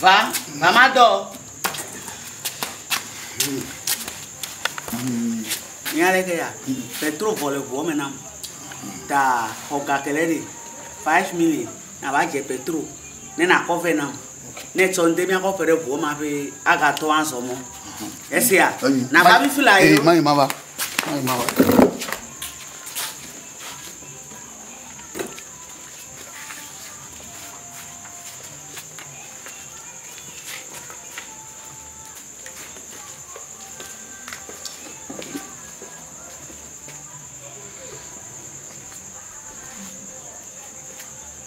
Va, mama dɔ. Nya ɖe ke ya. Petro vɔ le ʋuɔ me nam. Ta xɔ gakele ɖe. Five minutes. Na va dze Petro. Ne na kɔ vɛ nam. Ne tsɔ ŋde mia kɔ ƒe ɖe ʋuɔ ma ƒe aga tɔ azɔ mɔ. Esia, na va mi fila yi. Mai ma va, mai ma va.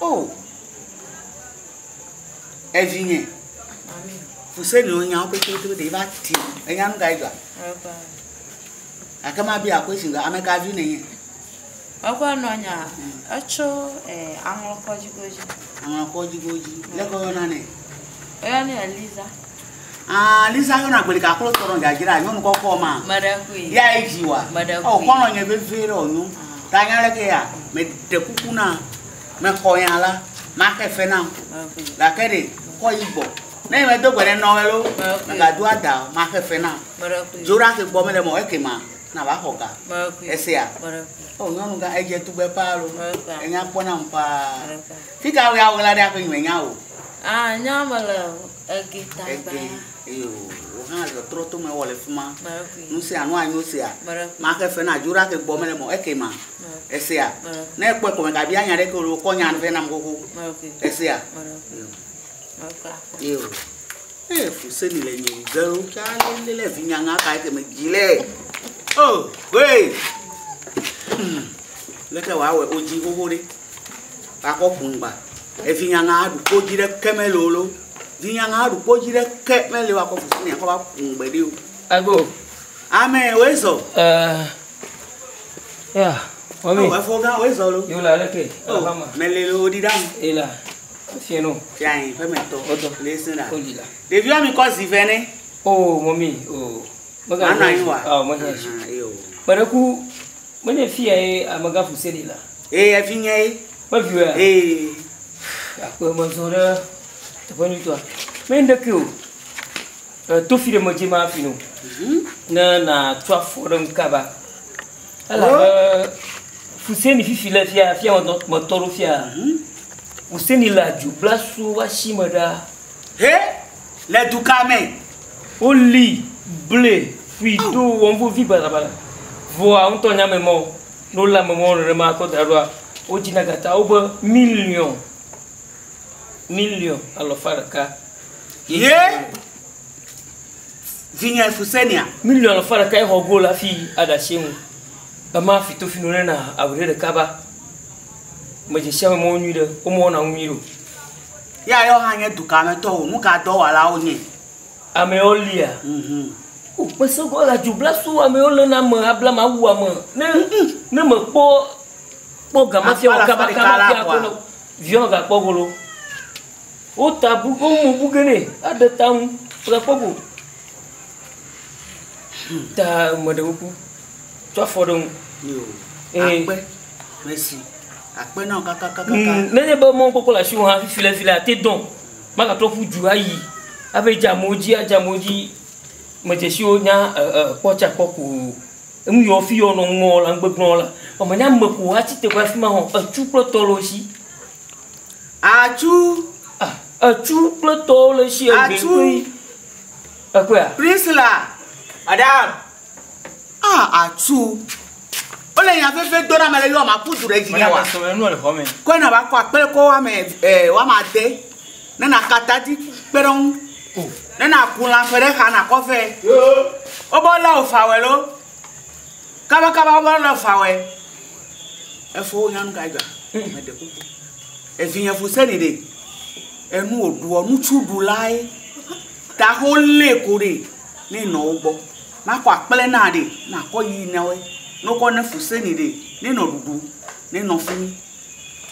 O! Evinye, Fuseniwo nyawo petepetewo ɖe va ti. Enya nu kae dzɔa? Gake mabia question be ame ka vi nenye? Eƒe nɔnya, etso eh, aŋlɔkɔdzigo dzi. Aŋlɔkɔdzigo dzi. Leke woyɔna nɛ? Woyɔnɛ Eliza. Ah, Lisa yɔna gbeli kaklo tɔ nɔ dzadzra nyɔnu kɔkɔ ma. Meɖe koe. Ya yi dzi wa. Meɖe koe. O kɔnɔ nye vevie ɖe o nyɔnu. Ta nya ɖe ke ya. Me ɖe kuku na. Me xɔ ya la. Ma ke fe na. La ke ɖe kɔ yi gbɔ. Ne me do gbe ne nɔ welo. Me ga do ada o. Ma ke fe na. Meɖe koe. Jora ke gbɔ me le mo eke ma. Na va xɔ ga. Meɖe koe. Ese ya. Meɖe koe. O nyɔnu ga edje tugbe pa lo. Meɖe koe. Enya kpɔ na mpa. Meɖe koe. Fika ya wela ɖe aƒe nyume nya o. Ah, nya me le. Ege tagba. Ege, eye wò, wò hã zɔ trɔ to me wɔ le fi ma. Mɛrɛkui. Nu sia nu anyo sea. Mɛrɛkui. Maxe fe na Juɖa ke gbɔ me le mɔ eke ma. Mɛrɛkui. Esea? Mɛrɛkui. Ne ekpɔe ko mègabia nya ɖeke o ɖo kɔ nya vɛ nam xoxo. Mɛrɛkui. Esea? Mɛrɛkui. Yo. Mɛrɛkui akpɔ. Ye o. Ee, fu se ni le nye ze ɖo tsa lele le vinya ŋa ka eke me dzi le. O, hoe! Leke wòawɔe wodzi xoxo ɖe? Akɔ ƒun gba. Evi nyana aɖu kpodzi ɖe ke me loo loo. Vi nyana aɖu kpodzi ɖe ke me loo akɔ fufu ni akɔ va ƒun gbe ɖi o. Ego. Ame wo ezɔ. Ɛ. Ya. Wɔmi. Ɔ efo gã wo ezɔ lo. Yo la leke. O va ma. Mele lo odi ɖam. E la. Fiɛ no. Fiɛ anyi ƒe me tɔ. O tɔ. Le se la. O di la. Ɖevi wɔmi kɔ zi vɛ ne. O mɔmi o. Mana yi wa. Ɔ, menye esi. Ahan, eye o. Kpeɖeku, menye fia ye amegã Fuseni lea? Ee, evinyee ye. Ƒe viwɔea? Ee. Akpe mezɔ ɖe teƒe nyuitɔa. Menye ŋɖekee o. E, to fi ɖe medze ma hafi no. Mhm. Ne nàtu afɔ ɖem kaba. Elabe Fuseni fifi le fia, fia metɔ, metɔ ɖo fia. Mhm. Fuseni le adzogblasuwo ƒe asime ɖaa. He! Le du ka me? Woli ble fui ɖo wɔm vevi balabala. Vɔa ŋutɔ nya me mɔ, ne wolé ame mɔwo nenema akɔ da ɖoa, wodzi na gata wobe miliɔn, miliɔn alɔfa ɖeka. Ye vinye Fusenia. Miliɔn alɔfa ɖeka ye xɔ go le afi aɖatsi ŋu. Ema fito fino ne na awu ɖe ɖeka ba. Medze sia me mɔ wo nyui ɖe, wo mɔ wo na ŋu nyui ɖe o. Ya yɔ hã nye dukã me tɔwo, nuka dɔwalawo nye? Amewo lia. O kpe sɔgbɔ la dzo bla so amewo le na me abla ma wu ame ne ne me kpɔ kpɔ gama fia o kaba kaba fia ko no vion ga kpɔ golo o ta bu ko mu bu gene a de ta mu fra kpɔ go ta me de ku tɔ fɔ de mu e akpe mesi Akpe na wò kakakakaka. Ŋ, nenye be mɔwo kpɔkpɔ le asiwò hã fifi le vi la, ate dɔ̃. Magatrɔ ƒu du ayi ava edze amewo dzi, adze amewo dzi medzesiwo nya e, e, kpɔ tsa kpɔ ko o. Enu yi ɔfi yɔ nɔ ŋmɔ la, ŋgbe gblɔ la, vɔ menye ame ko woatsi teƒe afi ma hã o. Etsu kple tɔ le wo si. Atsu. A, etsu kple tɔwo le si egbe Atsu. kpli. Ekpɔea? Priscilla, madame. Ah, atu. Wole nya veve do na me le yɔ ma ku du ɖe dzi nyawa. Kɔe na ba kɔ akpele kɔ wa me eh wa ma de. Ne na kata di kpe ɖe ŋu. Oh. Ne na ku la fe ɖe xa na kɔ fe. O bo la o fa we lo. Kaba kaba o bo la o fa we. E fo nya nu ka ja. Me de ku. E vi nya fu se ni de. E nu o du o nu chu du lai. Ta ho le ko de. ne enɔ wo gbɔ. Nakɔ akple na ɖe nakɔ yi na woe. Ne wokɔ ne fu seni ɖe ne nɔ ɖuɖu ne nɔ fi mi.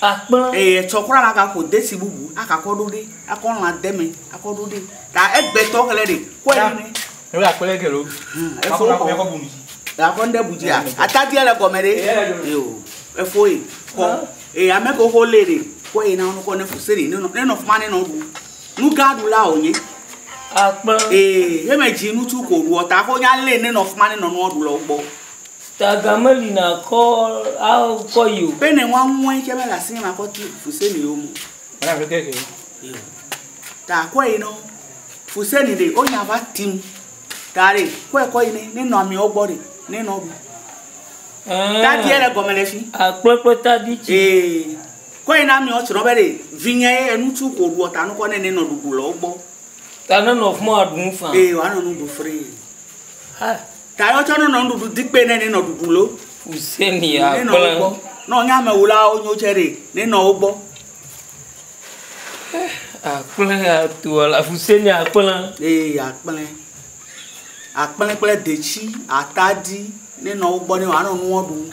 Akpla. Eye etsɔ kura na ga ƒo desi bubu aka kɔ ɖo ɖe akɔ lã de me akɔ ɖo ɖe ta egbe tɔ xlɛ ɖe kɔ yi ne. Ebe akple gelo. Efo kɔ. Akɔ bu mi. Akɔ ŋɖe bu dzi a atadia le gɔme ɖe. Eo efoe kɔ. Eye ame ke wokɔ le ɖe kɔ yi na wokɔ ne fu seni ne nɔ ne nɔ fi ma ne nɔ ɖu. Nu gã ɖula wònye. Akpe. Ee, ye me dzi ŋutsu ko ɖuɔ ta ko nya lé ne nɔ fuma ne nɔ nua ɖulɔ gbɔ. Taga me li na kɔ a kɔ yi o. Pe ne ŋua ŋue ke me le asi ne ma kɔ ti fuse ni yo mo. Ana fi keke. Ta kɔ yi no. Fuse ni de o nya va tim. Ta re kɔ e kɔ yi ne ne nɔ ami o gbɔ de ne nɔ bu. Ta di ele gɔme le fi. Akpe kpe ta di ti. Ee. Kɔe na miɔ tsrɔ be ɖe vinye ye enucu ko ɖuɔ ta nukɔ nɛ nenɔ ɖuɖu le wo gbɔ. Ta ne nɔ fmɔ aɖu nu fã. Eye woanɔ nu ɖu free. Ha. Ta yɔ tsɔ nenɔ nuɖuɖu dikpe nɛ nenɔ ɖuɖu lo. Fuseni ya gblẽ. Nenɔ wo gbɔ. Nɔ nye amewulawo nyo tsɛ ɖe nenɔ wo gbɔ. Akplẽ ya toa la fuseni akplẽ. Eye akplẽ. Akplẽ kple detsi, atadi nenɔ wo gbɔ nɛ woanɔ nuɔ ɖu.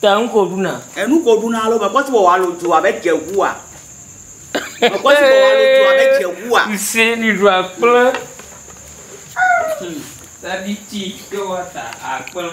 Te ŋu ko ɖuna. Enu ko ɖuna alo mekpɔ si wɔwɔ alo dua be dze ŋua. Mekpɔ si wɔwɔ alo dua be dze ŋua. Ŋsɛ ni ɖu akple. Sabiti ke wa ta akple.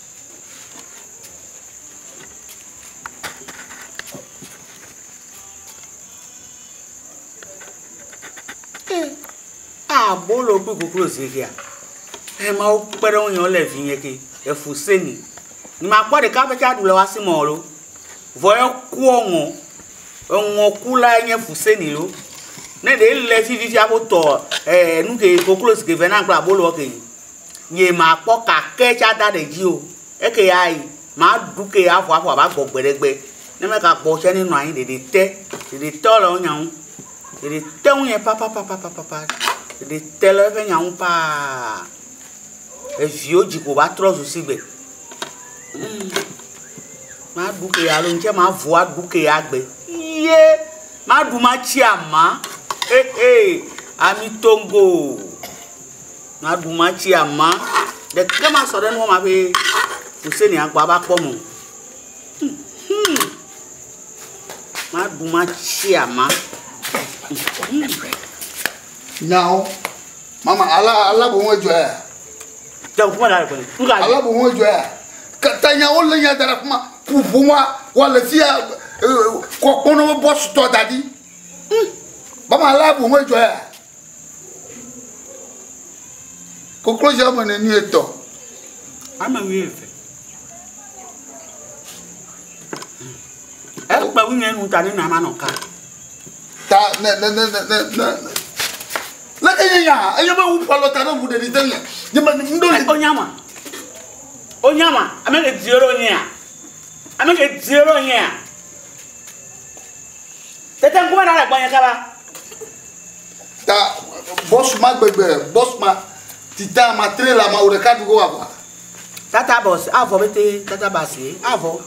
Eh, abolo kple koklozi kea. Eh, ma wokpe ɖe ŋunye wole vinye ke. Efu se mi. Ni makpɔ ɖeka ƒe tsa ɖu le wasi mɔ lo. Vɔ ekuɔ ŋɔ. Eŋɔ ku la nye fu se ni lo. Ne ɖe le fi fi fia ko tɔ eh nu ke koklozi ke vɛ na kple abolo ke. Nye makpɔ kake tsa da ɖe dzi o. Eke ya yi maɖu ke ya ƒua ƒua va gbɔ gbe ɖe gbe. Ne me ga gbɔ tse ne nɔa nyi ɖeɖe te. Ɖeɖe te le wo nya ŋu. Ɖeɖe te ŋu nye papapapapapa. Ɖeɖe te le eƒe nya ŋu paa. Eviwo dzi ko va trɔ zu si gbe. Hum. Ma ɖu ke ya lo ŋtse ma vo a ɖu ke ya gbe. Ye ma ɖu ma tsi ama. Hehe. Ami tongo. Maɖu matsi ama ɖeke masɔ ɖe nua ma ƒe Hussein agba ava kpɔ mo. Maɖu matsi ama. Nyawo. Mama ala ala bo ŋo jɔ ya. Jɔ kuma da ko. Uga. Ala bo ŋo jɔ ya. Kata nyawo le nya da kuma pupu wa wa le fia kokpono boss to dadi. Mama ala bo ŋo jɔ ya. Koklozi ame ne nu etɔ. Ame wi eve. Ekpe wu nye nu ta ne nama nɔ ka. Ta ne ne ne ne ne ne. Ne eye ya eye me wu palo ta ne wu ɖeɖi de nye. Nye me ndo. Onyama. Onyama ame ke diero nyea. Ame ke diero nyea. Tete kuma na le gbɔnye kaba. Ta bɔs ma gbegbe, bɔs ma tita ma trela ma wò ɖeka ɖugo wà gba. Tata bɔs avɔ bete, tata basi avɔ.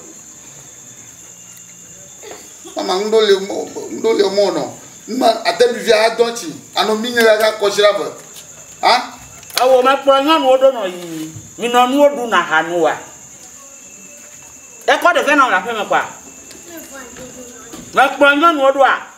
Mama ŋɖo le ŋɖo le mɔ nɔ. Mma ate mi via adɔ tsi anɔ mi nyere ga kɔsira be. Ha? Ewo mekpɔ nyɔnuwo ɖo nɔ yi minɔ nuwo ɖu na ha nu wa. Ekɔ ɖe vɛ nɔ le aƒeme kwa. Mekpɔ nyɔnuwo ɖoa.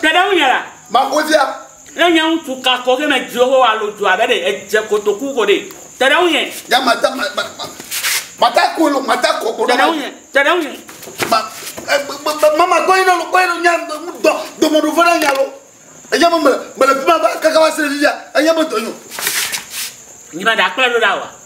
Ke ɖe ŋunye la. Magodzea. Ne nye ŋutsu ka ko ke medzi Yehowa alo dua be ɖe edze kotoku ko ɖe, te ɖe ŋunye. Nya mata ma ma ma mata ko lo mata ko ko. Te ɖe ŋunye. Te ɖe ŋunye. Ma mama kɔyi na lo kɔyi lo nya dɔ dɔmɔɖo fɔ na nya lo. Enya me mele mele fi ma va kaka va se ɖe fifia enya me dɔ nyo. Nyima ɖe akplɔe ɖo ɖa wa.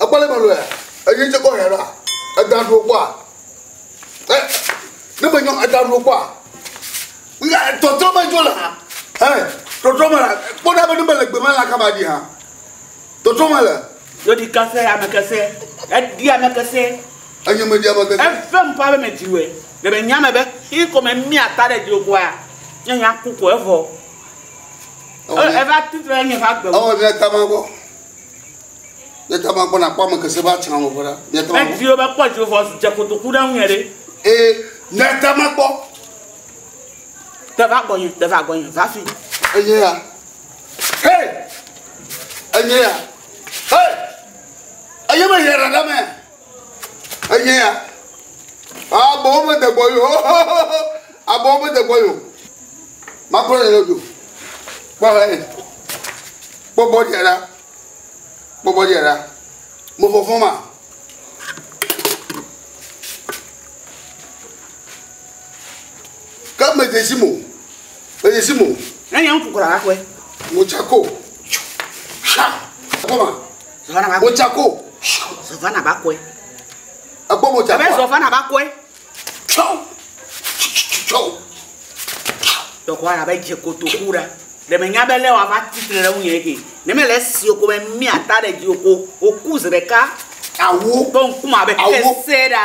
Ekpɔ le me lɔe. Eyi tse kɔ hɛ ɖa. Eda ɖu kpɔa. Ɛ ne me nyɔ eda ɖu kpɔa. Nga tɔtrɔ me dzo la. Ɛ tɔtrɔ me la. Kpɔ ɖa be ne me le gbe me la kaba di ha. Tɔtrɔ me le. Yodi kese ame kese. Edi ame kese. Enye me di ame kese. Efe ŋkɔ abe me di wɛ. Le me nya me be xi ko me mi ata ɖe di kɔa. Nye nya ku ko evɔ. Eva titre nye va gbe. Ɔwɔ ne tama gbɔ. Ne ta ma gbɔ na kpɔ ame kese ba tsã wɔ fɔɖa. Ne ta ma gbɔ. Edziwo ba kpɔ dziwo fɔ dze kotoku ɖe ŋu ɖe. Ee ne ta ma gbɔ. Te va gbɔ nye, te va gbɔ nye, va fi. Enye ya. Hey! Enye ya. Hey! Enye me yɛ ɖaɖa mɛ. Enye ya. Abɔwo me de gbɔ yo. Abɔwo me de gbɔ yo. Makplɔ ne yo. Kpɔ he. Kpɔ bɔ dia la. Kpɔ bɔ dia la. Mo fofo ma. Kama me desi mo. Me desi mo. Nanya mfukura akwe. Muchako. Sha. Koma. Modzako. Zɔvana ba kɔe. Ekpɔ modzako. Ebe zɔvana ba kɔe. Tsɔ. Tsɔ. Tɔkɔ ara be dze kotoku ɖa. Ɖe me nya be lɛ wa va titre ɖe ŋunye ke. Ne me le si oko me mia ta ɖe dzi oko. Oku zi ɖeka. Awu. Tɔ ŋkume abe kese ɖa.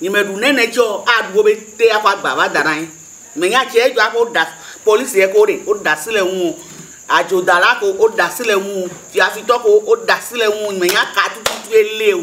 Nyi me ɖu nɛnɛ tsɛ ɔ, a ɖu wo be te a kɔ agba va da na anyi. Me nya tsɛ edzɔ aƒe wo ɖa police ɖe ko ɖe wo ɖasi le ŋuo. Adzo dala ko wo ɖasi le ŋuo. Fiafi tɔ ko wo ɖasi le ŋuo. Me nya ka tututu ye li o.